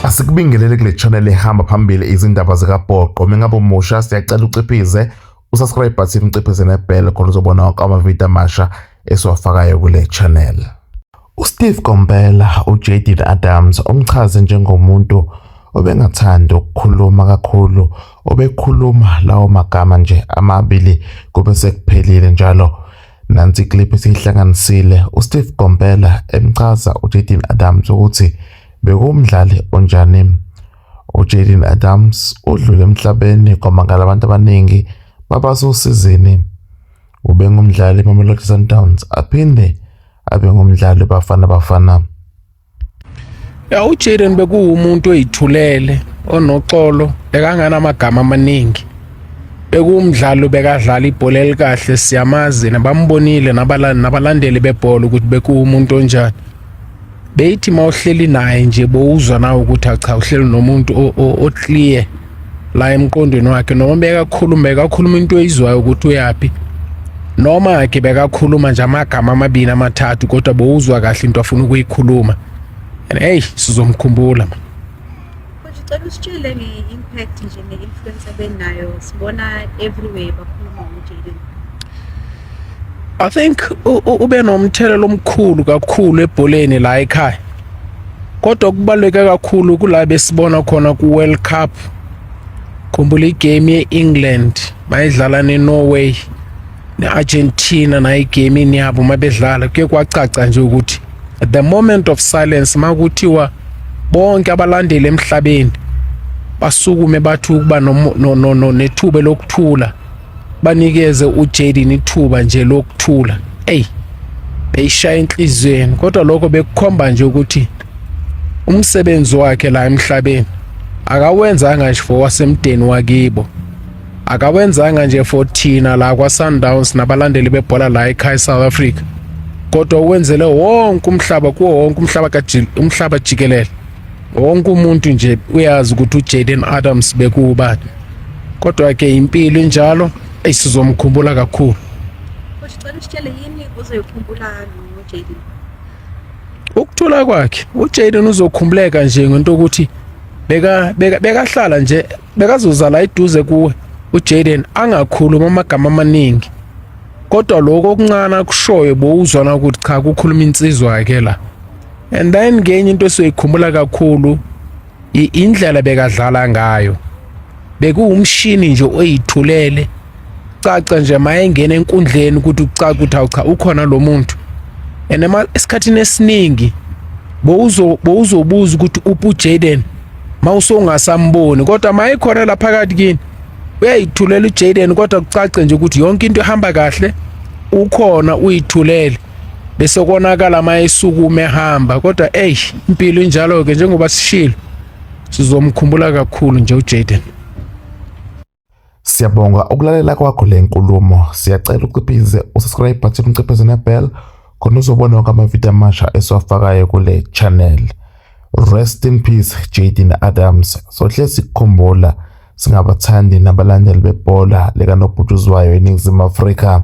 Asikubingelele kule channel ehamba phambili izindaba zikabhoqo. Mengabe umusha siyacela uciphize usubscribe button uciphize nebell khona uzobona wonke amavidiyo amasha esiwafakayo kule channel. USteve Komphela uJaden Adams omchaze njengomuntu obengathandi ukukhuluma kakhulu obekhuluma lawo magama nje amabili kube sekuphelile njalo Nansi iclip esiyihlanganisile uSteve Gompela emchaza uJaden Adams ukuthi bekuwumdlali onjani. UJaden Adams udlule emhlabeni kwamangala abantu abaningi babasosizini. Ubengumdlali weMamelodi Sundowns aphinde abe ngumdlali weBafana Bafana. ya ujaden bekuwumuntu oyithulele onoxolo bekanganamagama amaningi bekuwumdlalo bekadlala ibhola elikahle siyamazi nabambonile nabalandeli bebhola ukuthi bekuwumuntu onjani beyithi uma uhleli naye nje bowuzwa nawe ukuthi acha uhleli nomuntu oclear la emqondweni wakhe noma bekakhuluma bekakhuluma into oyizwayo ukuthi uyaphi noma ke bekakhuluma nje amagama amabili amathathu kodwa bowuzwa kahle into afuna ukuyikhuluma and hey sizomkhumbula manje Cela usitshele nge-impact nje ne-influence abenayo sibona everywhere bakhuluma ngoJaden. I think ube nomthelelo omkhulu kakhulu ebholeni la ekhaya kodwa kubaluleke kakhulu kula besibona khona ku World Cup khumbula igame ye-England mayidlala ne-Norway ne-Argentina nayo igamini yabo uma bedlala kuye kwacaca nje ukuthi at the moment of silence makuthiwa bonke abalandeli emhlabeni basukume bathi ukuba nethuba lokuthula banikeze uJaden ithuba nje lokuthula ey beyishaya enhlizweni kodwa lokho bekukhomba nje ukuthi umsebenzi wakhe la emhlabeni akawenzanga nje for wasemdeni wakibo akawenzanga nje for thina la kwaSundowns nabalandeli bebhola la ekhaya South Africa kodwa uwenzele wonke umhlaba kuwo wonke umhlaba umhlaba jikelele wonke umuntu nje uyazi ukuthi uJaden Adams bekuwubani kodwa ke impilo injalo ayisizomkhumbula kakhulu Futhi cela usitshele yini uzoyikhumbula ngoJaden ukuthula kwakhe uJaden uzokhumbuleka nje ngento ukuthi beka beka bekahlala nje bekazozala iduze kuwe uJaden angakhuluma amagama amaningi kodwa lokho okuncane akushoyo bowuzwana ukuthi cha kukhuluma insizwa yakhe la and then ngenye into esiyoyikhumbula kakhulu indlela bekadlala ngayo bekuwumshini nje oyithulele caca nje mayengena enkundleni ukuthi ucaca ukuthi awucha ukhona lo muntu and esikhathini esiningi bowuzobuza ukuthi uphi uJaden mawusongasamboni kodwa mayikhona la phakathi kini uyayithulela uJaden kodwa kucace nje ukuthi yonke into ihamba kahle ukhona uyithulele bese konakala uma esukume ehamba kodwa eyi impilo injalo-ke njengoba sishilo sizomkhumbula kakhulu nje ujaden siyabonga ukulalela kwakho le nkulumo siyacela uciphize usubscribe button uciphize nebell khona uzobona wonke amavidiyo amasha esiwafakayo kule channel rest in peace jaden adams sohle sikukhumbula singabathandi nabalandeli bebhola likanobhutshuzwayo eningizimu afrika